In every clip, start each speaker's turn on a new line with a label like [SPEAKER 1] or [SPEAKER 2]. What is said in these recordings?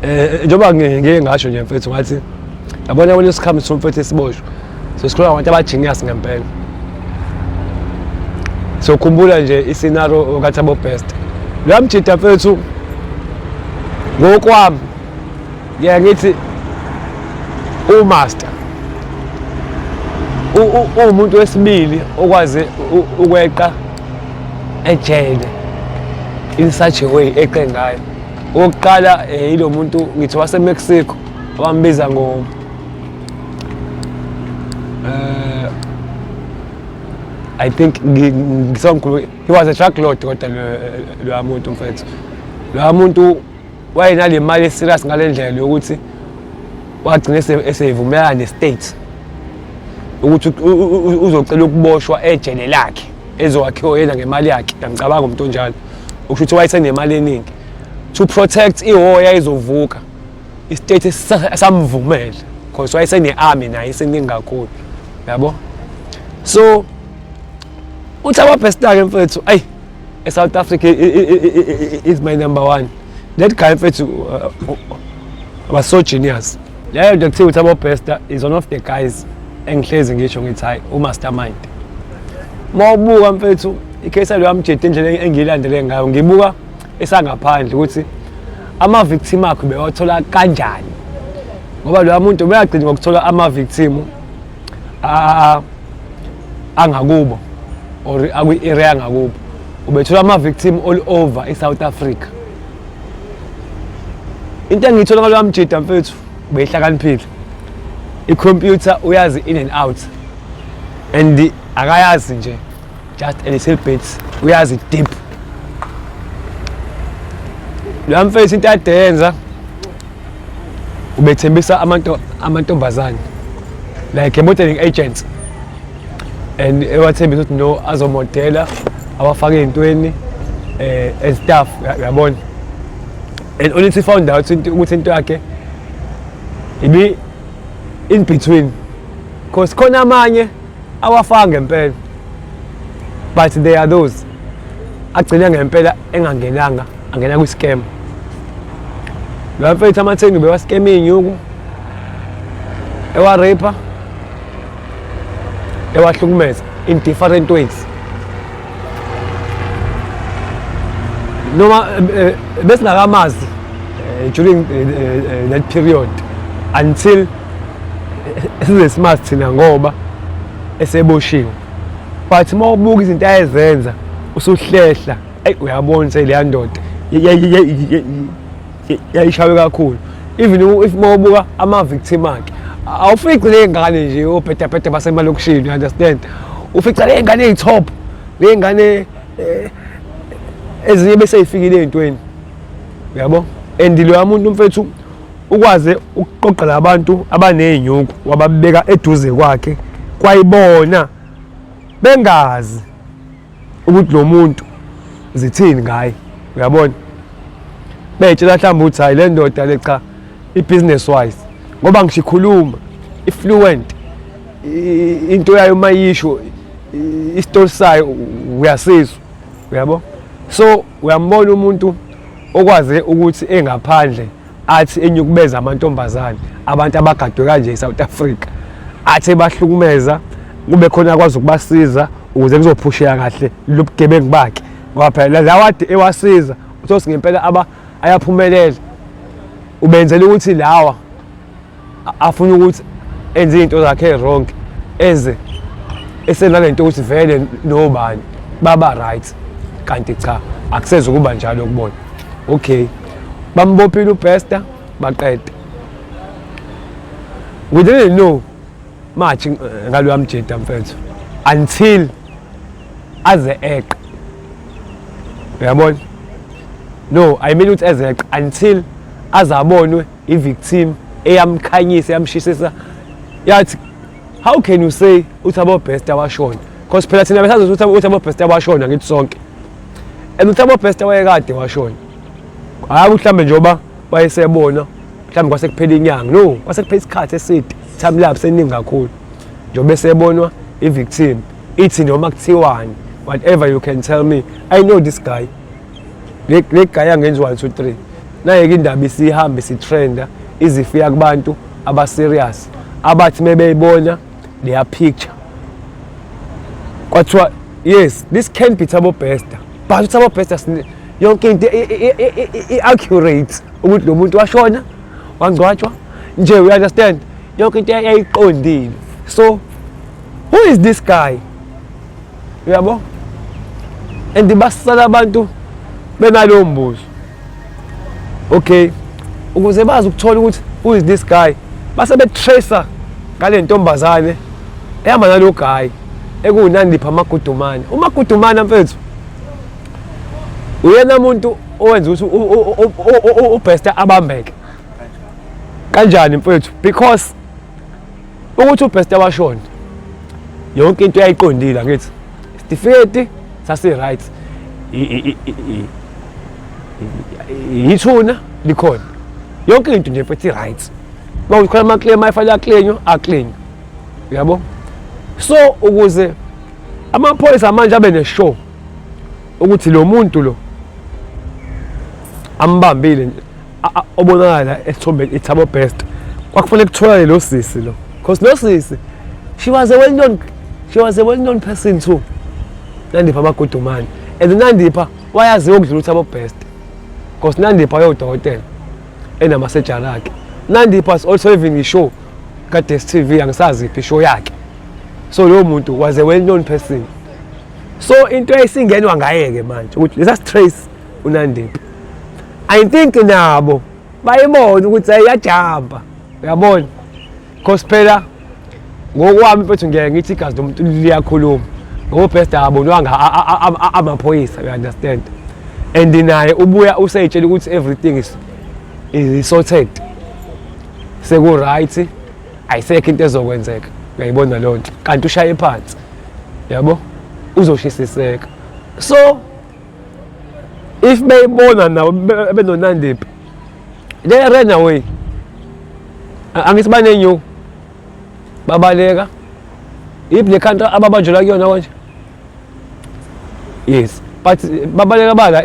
[SPEAKER 1] Eh njengoba ngeke ngasho nje mfethu ngathi yabona kwenye isikhathi somfethu esiboshwe. So sikhuluma ngabantu abajiniyasi ngempela. So khumbula nje isinaro kathi abo best. Lo mjita mfethu ngokwami ngeke ngithi umaster uwumuntu wesibili okwazi ukweqa ejele in such a way eqe ngayo okokuqala eh, yilo muntu ngithi wasemexico abambiza ngo um eh, i think ngisongikhulu he was a truck lord kodwa loya muntu mfethu loya muntu wayenale mali eserious ngale ndlela yokuthi wagcina eseyivumelana ne-state ukuthi uzocela ukuboshwa ejele lakhe ezowakhiwa yena ngemali yakhe ngiyamcabanga umuntu onjalo ukusho ukuthi wayesenemali eningi to protect ihora yayizovuka istate samvumela because wayesene-army naye iseningi kakhulu yabo so uthi ababhestake mfethu ayi esouth africa is my number one that guy mfethu uh, uh, was so genius leyo nje kuthiwa ukuthi abobester is one of the guys engihlezi ngisho ngithi hayi umastermind uma ubuka mfethu ikhesi yalo yamjeda indlela engiyilandele ngayo ngibuka esangaphandle ukuthi ama-victim akho bewathola kanjani ngoba loya muntu ubeyagcina ngokuthola ama-victim angakubo or akwi-area angakubo ubethola ama-victim all over i-south africa into engiyithola ngaloya mjida mfethu beyihlakaniphile ikhompyutha uyazi in and out and akayazi nje just a little bit uyazi deep loya mfethu into adenza ubethembisa amantombazane like a modeling agent and ewathembisa ukuthi no azomodela awafake ey'ntweni eh, and staff yabona and only to found out ukuthi into yakhe ibi in between because khona amanye awafanga ngempela but there are those agcina ngempela engangenanga angena kwi-scam lo mfethu amatheni ubewa-scam iy'nyuku ewa-raper ewahlukumeza in different ways noma eh, eh, besingakamazi eh, during that period until size simazi thina ngoba eseboshiwe but uma ubuka izinto ayezenza usuhlehla eyi uyabona seleya ndoda yayishawe kakhulu even if uma ubuka ama-victim akhe awufici ley'ngane nje obhedabhede basemalokishini you understand ufica ley'ngane ey'top ley'ngane eh, ezinye besey'fikile ey'ntweni uyabo and loya muntu mfethu ukwaze ukuqoqela abantu abaney'nyuku wababeka eduze kwakhe kwayibona bengazi ukuthi lo muntu zithini ngaye uyabona betshela mhlawumbe ukuthi hayi le ndoda le cha i-business wise ngoba ngisho ikhuluma i-fluent into yayo uma yisho isitori sayo uyasizwa uyabo so uyambona umuntu okwaze ukuthi engaphandle athi enyukubeza amantombazane abantu abagadwe kanje eSouth Africa athi bahlukumeza kube khona akwazi ukubasiza ukuze kuzophusheka kahle lobugebengu bakhe ngoba phela lawade ewasiza uthosi ngempela aba ayaphumelela ubenzela ukuthi lawa afuna ukuthi enze izinto zakhe wrong eze esenale nto ukuthi vele nobani baba right kanti cha akuseze ukuba njalo kubona okay bambophile upester baqede we didn't know much eh, ngaloya mjeda mfethu until aze eqe uyabona no i mean ukuthi ezeqe until azabonwe i-victim eyamkhanyisa yamshisisa yathi how can you say uthi abobest abashona because phela thina besazi ukuthi uthi abobest abashona ngithi sonke and uthi abobest wayekade washona hayi mhlawumbe njengoba wayesebona mhlawumbe kwase kuphela inyanga no kwase kuphela isikhathi eside time lapse eningi kakhulu njengoba esebonwa i-victim ithi noma kuthiwani whatever you can tell me i know this guy legaya ngenzi 1 2 3 nayeke indaba isihambe sitrenda izifika kubantu abaserious abathi mebeyibona their picture kwathiwa yes this can be thabo bester but uthabo bester yonke into i-accurate ukuthi lo muntu washona wangcwatshwa nje we understand yonke into yayiqondile so who is this guy uyabo and basala abantu benalowo mbuzo okay ukuze bazi ukuthola ukuthi who is this guy base betracer ngale ntombazane ehamba nalo guy ekuwunandipha amagudumane umagudumane mfethu uyena muntu owenza ukuthi ubhesta abambeke kanjani mfethu because ukuthi ubheste washona yonke into yayiqondile ngithi isitifiketi sasi-right yithuna likhona yonke into nje mfethu i-right uma ukhona ama-claim ayifanele aklenywa aklenywa uyabo so ukuze amaphoyisa manje abe ne-show ukuthi lo muntu lo ambambile obonakala esithombeni ithabo best kwakufanele kutholane lo sisi lo because no sisi she was a well known she was a well known person too nandipha amagudumane and nandipha wayaziwa ukudlula uthabo best because nandipha yodokotela enamasejari akhe nandipha was also having ishow ka-des t v angisazi iphi ishow yakhe so lowo muntu was a well known person so into esingenwa ngaye-ke manje ukuthi lesa strace unandiphi i think nabo bayibona ukuthi ayiyajamba uyabona because phela ngokwami mfethu ngeke ngithi igazi lomuntu liyakhuluma ngoba best abonwanga amaphoyisa you understand and naye ubuya useyitshela ukuthi everything is is sorted seku right ayisekho into ezokwenzeka uyayibona loo nto kanti ushaye phansi yabo uzoshisiseka so if beyibona nabo benonandiphi they ran away angithi banenyuku babaleka if le country ababanjelwa kuyona konje yes but babaleka bala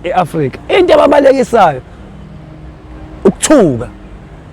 [SPEAKER 1] e-afrika e, e, into ababalekisayo ukuthuka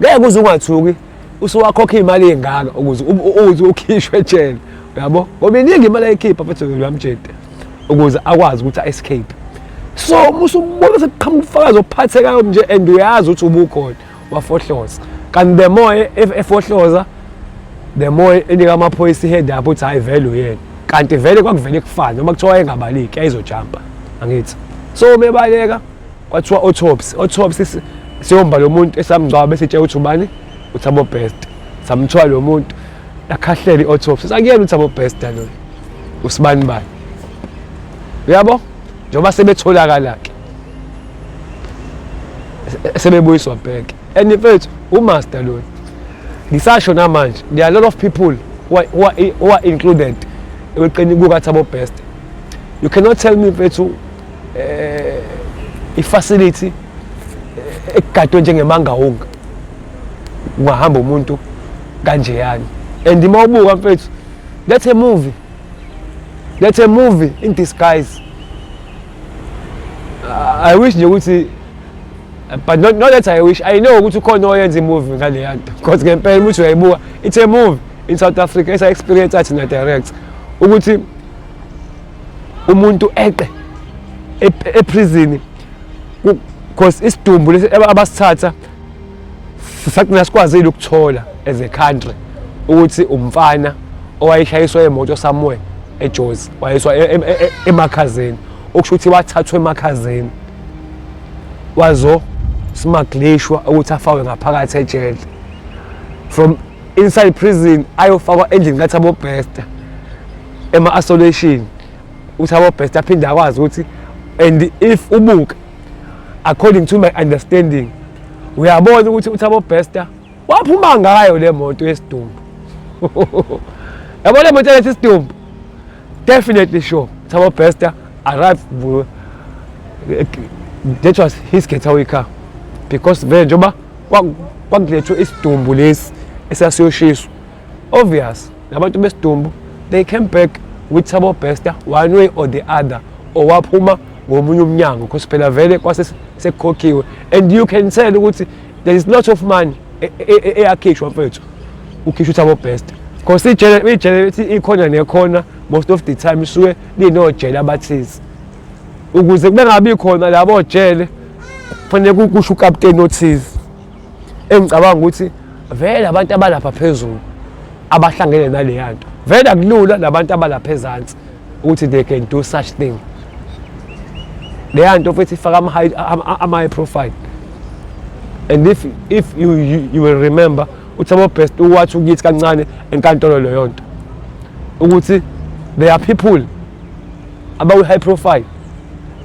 [SPEAKER 1] ngeke uze ungathuki usuwakhokha imali engaka ukuze uthi ukhishwe ejele yabo ngoba iningi imali ayikhipha futhi uyamjeda ukuze akwazi ukuthi a-escape so uma usubona sekuqhamuka ubufakazi ophathekayo nje and uyazi ukuthi ubukhona wafohloza kanti the more efohloza the more enika amaphoyisa i-head up ukuthi hhayi vele uyena kanti vele kwakuvele kufane noma kuthiwa engabaliki yayizojampa angithi so umebaleka kwathiwa autopsy autopsy siyomba lo muntu esamngcwaba bese itshe ukuthi ubani uthabo best samthiwa lo muntu yakhahlela i-autopsy sakuyena uthabo best loyo usibani bani uyabo njengoba sebetholakala-ke sebebuyiswa bheke and mfethu umaster loyo ngisasho namanje there are a lot of people who are, who are, who are included ekuqeni kukathabo best you cannot tell me mfethu eh ifacility eh, egadwe njengemangawunga ungahamba umuntu kanje yani and uma ubuka mfethu that's a movie that's a movie in disguise i wish nje ukuthi but not, not that i wish i know ukuthi ukhona oyenza imovie ngaleya nto because ngempela umuthi uyayibuka it's a movie in south africa esa-experience athi na-direct ukuthi umuntu eqe eprison because isidumbu lesi abasithatha sagcina sikwazile ukuthola as a country ukuthi umfana owayeshayiswa emoto somewhere ejozi wayeswa e, e, e, emakhazeni okusho ukuthi wathathwa emakhazeni wazo smaglishwa ukuthi afawe ngaphakathi ejele from inside prison ayofakwa endlini kathabo bester ema-isolation uthabo bester aphinde akwazi ukuthi and if ubuke according to my understanding uyabona ukuthi uthabo bester waphuma ngayo le moto yesidumbu yabona le moto yalethi isidumbu Definitely sure. Thabo Bester arrived that was his getaway car because vele njengoba kwakulethwe isidumbu lesi esasiyoshiswa obvious labantu besidumbu they came back with Thabo Bester one way or the other owaphuma ngomunye umnyango because phela vele kwase sekukhokhiwe and you can tell ukuthi there is lot of money eyakhishwa e, e, e, mfethu ukhishwa ukuthi abo-best because ijele ijele ithi ikhona nekhona most of the time isuke linojele abathize ukuze kube ngabi khona labo jele kufanele kusho ukapteni othize engicabanga ukuthi vele abantu abalapha phezulu abahlangene naleya nto vele akulula nabantu abalapha ezansi ukuthi they can do such thing leya nto futhi ifaka ama-high profile and if, if you, you, you will remember uthi abobest uwathi ukithi kancane enkantolo leyo nto ukuthi there are people abawu-high profile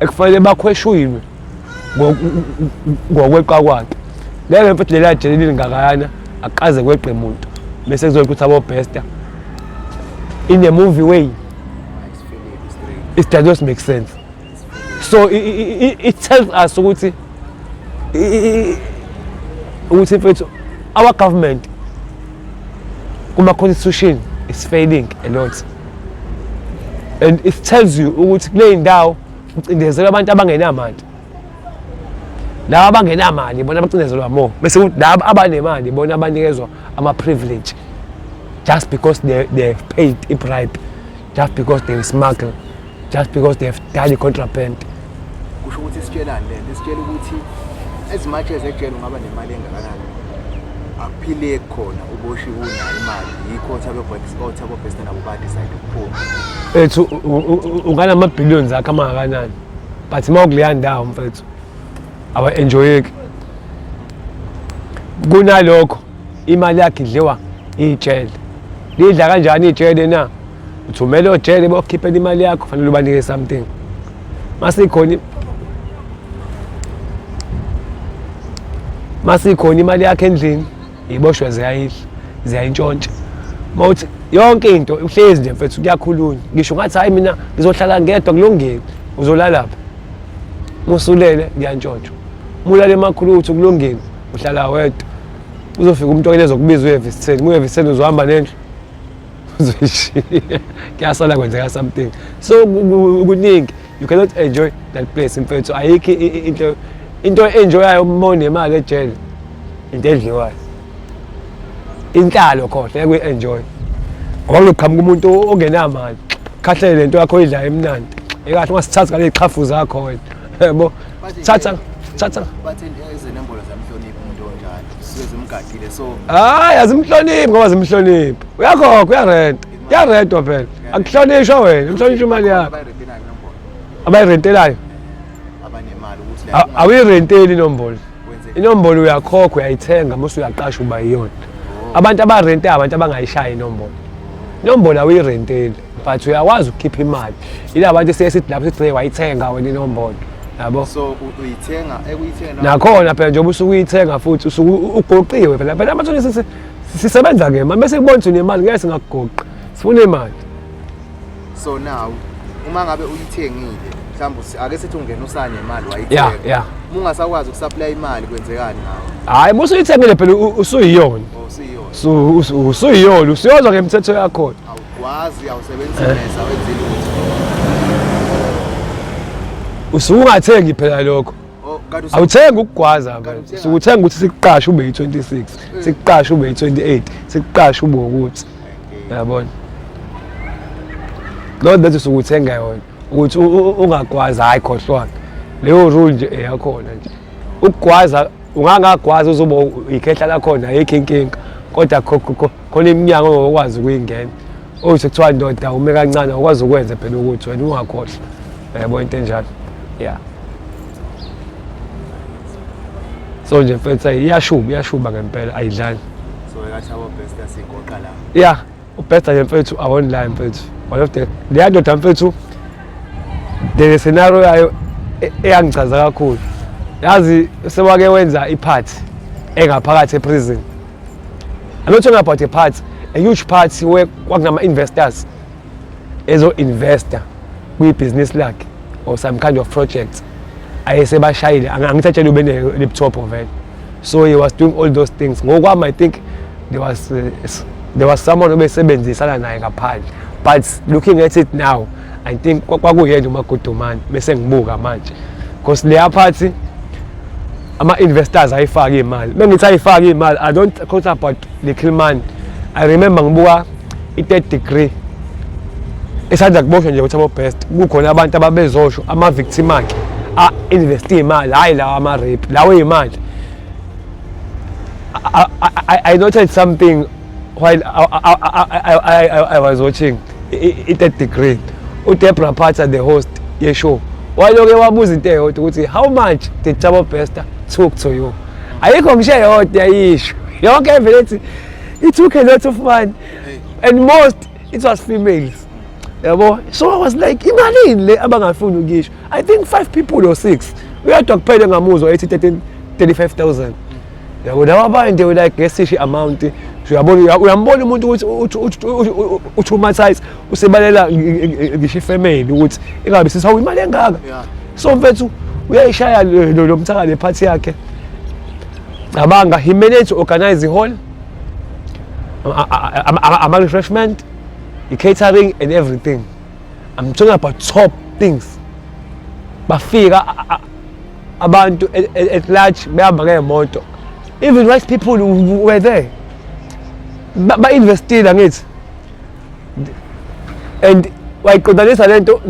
[SPEAKER 1] ekufanele bakhweshuywe ngokweqa kwakhe ngeke mfethu leli ajele lilingakayana akuqaze kweqe muntu bese kuzoyika ukuthi abobester in a movie way it does not make sense so it, it, it tells us ukuthi ukuthi mfethu our government kuma-constitution is failing a lot and it tells you ukuthi kule ndawo Ucindezelwa abantu abangenamandla. Laba abangenamali bona bacindezelwa more. Bese kuthi laba abanemali bona abanikezwa ama privilege just because they they have paid a bribe, just because they smuggle, just because they have done a contraband. Kusho
[SPEAKER 2] ukuthi sitshelani lento? Sitshela ukuthi as much as ejele ungaba nemali engakanani akuphile khona uboshiwe unayo imali yikho othabe bhekisa othabe bhesta nabo ba decide Ethu
[SPEAKER 1] unganama billions akho amakanani but uma ukuleya ndawo mfethu awa enjoyeki kunalokho imali yakhe idliwa ijele lidla kanjani ijele na uthumele ojele bokhiphela imali yakho fanele ubanike something masikhona masikhona imali yakhe endlini iboshwa ziyayidla ziyayintshontsha mawuthi yonke into uhlezi nje mfethu kuyakhulunywa ngisho ngathi hayi mina ngizohlala ngedwa kulungile uzolalapha musulele ngiyantshontsha mulale emakhulu ukuthi kulungile uhlala wedwa uzofika umuntu okele zokubiza uyevisitheni muyevisitheni uzohamba nendlu uzoyishiya kuyasala kwenzeka something so kuningi you cannot enjoy that place mfethu ayikho into into enjoyayo uma unemali ejele into edliwayo inhlalo khona ngeke uyi-enjoy ngoba kuqhamuka umuntu ongenamali khahlele le nto yakho oyidlayo emnandi ekahle ungasithatha ngale y'qhafu zakho wena yebo thatha
[SPEAKER 2] thatha hayi azimhloniphi
[SPEAKER 1] ngoba zimhloniphi uyakhokha uyarenta yaredwa phela akuhlonishwa wena uhlonishwa imali yakho abayirentelayo
[SPEAKER 2] awuyirenteli inombolo
[SPEAKER 1] inombolo uyakhokha uyayithenga mose uyaqasha uba yiyona oh. abantu abarente abantu abangayishayi inombolo inombolo awuyirenteli but uyakwazi ukukhipha imali yila bantu siye sithi lapho sithi wayithenga wena inombolo yabo so uyithenga
[SPEAKER 2] ekuyithenga nakhona phela njengoba usuke
[SPEAKER 1] uyithenga futhi usuke ugoqiwe phela phela amathonisi sisebenza ke manje bese kubona ukuthi unemali ngeke singakugoqa sifuna imali so
[SPEAKER 2] now uma ngabe uyithengile mhlawumbe ake sithi ungena usane imali wayithenga yeah yeah uma ungasakwazi ukusupply imali kwenzekani ngawo hayi musu uyithengile phela
[SPEAKER 1] usuyiyona oh, usuyiyona so usuyiyona usuyozwa ngemthetho yakho awukwazi
[SPEAKER 2] awusebenzisa eh. mesa wenzile
[SPEAKER 1] usungathengi phela lokho Oh, awuthengi ukugwaza sikuthenga ukuthi sikuqashe ube yi-26 mm. sikuqashe ube yi-28 sikuqashe ube ukuthi yabona loo nto sukuthenga yona ukuthi ungagwazi hhayi khohlwana leyo rule nje eyakhona nje ukugwaza ungangagwazi uzoba yikhehla lakhona ayikho inkinga kodwa khona iminyango ongakwazi ukuyingena owu oh, sekuthiwa ndoda ume kancane awukwazi ukwenze phela ukuthi wena ungakhohlwa yabo into enjalo ya so nje mfethu iyashuba iyashuba ngempela ayidlali
[SPEAKER 2] ya ubhesta nje mfethu
[SPEAKER 1] awonline mfethu one of the leya ndoda mfethu the scenario yayo e-, eyangichaza kakhulu yazi sewake wenza iphathi engaphakathi eprison I'm not talking about a part, a huge part where kwakungama investors ezo investor kwi business lakhe or some kind of project ayesebashayile angithatshele ube ne laptop vele so he was doing all those things ngokwami i think there was uh, there was someone obesebenzisana naye ngaphandle but looking at it now i think kwakuyena umagudumane bese ngibuka manje because leya phathi ama-investors ayifake imali bengithi ayifake imali i don't talk about little money i remember ngibuka i-third degree esanda kuboshwa nje ukuthi abo-best kukhona abantu ababezosho ama-victim akhe a-investe imali hhayi lawa ama-rape lawo imali i noted something while I, I, I, I, I, I was watching i-third degree udebra phatha the host yeshow waloke wabuza into eyodwa ukuthi how much did jabo bester took to you ayikho ngisho eyodwa yisho yonke evele ethi it took a lot of money and most it was females yabo so i was like imalini le abangafuni ukuyisho i think five people or six uyadwa kuphele ngamuzwa ethi 13 35000 yabo laba abantu we like ngesishi amount uyabona uyambona umuntu ukuthi utraumatise usebalela ngisho ifamily ukuthi ingabe sisawu imali engaka so mfethu uyayishaya lo mthaka le party yakhe cabanga he managed to organize the hall ama refreshment the catering and everything i'm talking about top things bafika abantu at, at, at large behamba ngemoto even wise people were there ba-investile ba angithi and wayiqondanisa le nto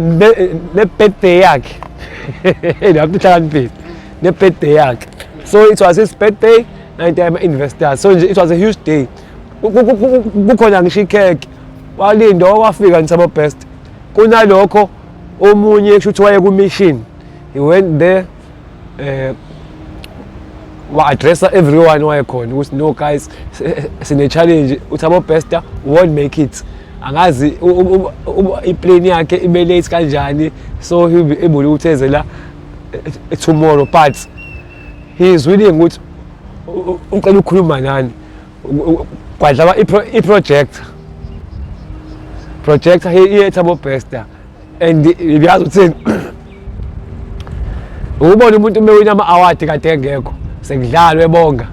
[SPEAKER 1] ne-birthday yakhe lapho ihlakaniphile ne-birthday yakhe so it was his birthday and I'm an investor so nje it was a huge day kukhona ngisho ikhekhe walinda wafika ngisabo best kunalokho omunye kusho ukuthi wayekumishini he went there eh wa-addressa everyone wayekhona ukuthi no guys sine-challenge uthi abobester won't make it angazi iplane yakhe ibe late kanjani so he'll be able ukuthi eze la eh, tomorrow but he is willing ukuthi ucela ukukhuluma nani kwadlaba i-project project iyetha bobester and ngiyazi ukuthini ukubona umuntu umewina ama-award kade engekho sekudlalwe bonga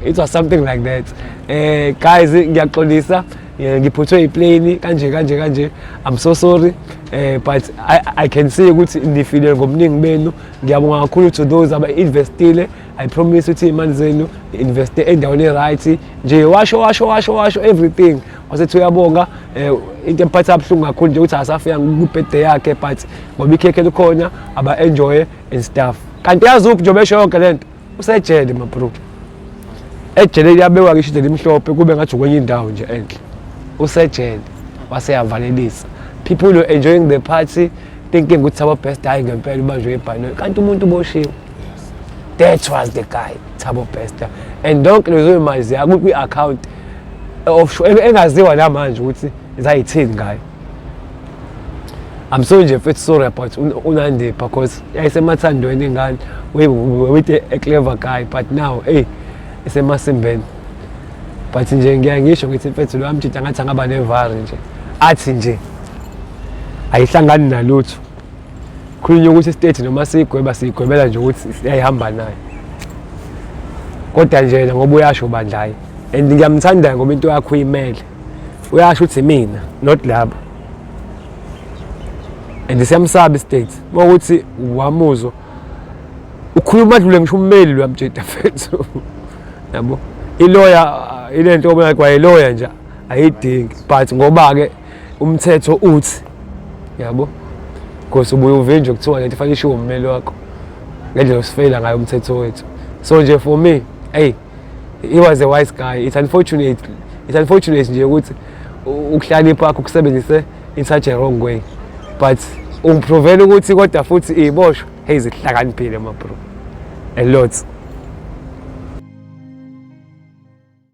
[SPEAKER 1] it was something like that eh guys ngiyaxolisa eh, ngiphuthwe iplane kanje kanje kanje i'm so sorry eh but i, I can see ukuthi nifile ngomningi benu ngiyabonga kakhulu to those aba-investile i promise ukuthi imali zenu investe endaweni right nje washo washo washo washo everything wasethi uyabonga eh, into emphatha abuhlungu kakhulu nje ukuthi asafika kubhede yakhe but ngoba ikhekhe likhona aba enjoy and stuff kanti yazi uphi njengoba esho yonke lento usejele mabro ejele liyabekwa ngisho into limhlophe kube ngathi kwenye indawo nje enhle usejele waseyavalelisa people were enjoying the party thinking ukuthi aba best hayi ngempela ubanjwe ibhanoyi kanti umuntu uboshiwe that was the guy Thabo Bester and yonke lezo imali ziya kwi account offshore engaziwa namanje ukuthi zayithini ngayo I'm so nje mfethu sorry about unandi because yayisemathandweni ingane we with a clever guy but now hey isemasimbeni but nje ngiya ngisho ngithi mfethu lo amjita ngathi angaba nevari nje athi nje ayihlangani nalutho khulunywa ukuthi istate noma sigweba sigwebela nje ukuthi siyayihamba nayo kodwa nje yena ngoba uyasho bandlayi and ngiyamthanda ngoba into yakho uyimele uyasho ukuthi mina not labo and siyamsaba istate uma ukuthi wamuzwa ukhuluma dlule ngisho ummeli lwamjeda fethu yabo iloya ilento obona kwayeloya nje ayidingi but ngoba ke umthetho uthi yabo because ubuye uvinjwe kuthiwa lento fanele ishiwo ummeli wakho ngendlela osifeyila ngayo umthetho wethu so nje for me hey he was a wise guy it's unfortunate it's unfortunate nje ukuthi ukuhlanipha akho kusebenzise in such a wrong way but ungiprovela ukuthi kodwa futhi iyiboshwa hey zihlakaniphile mabro a lot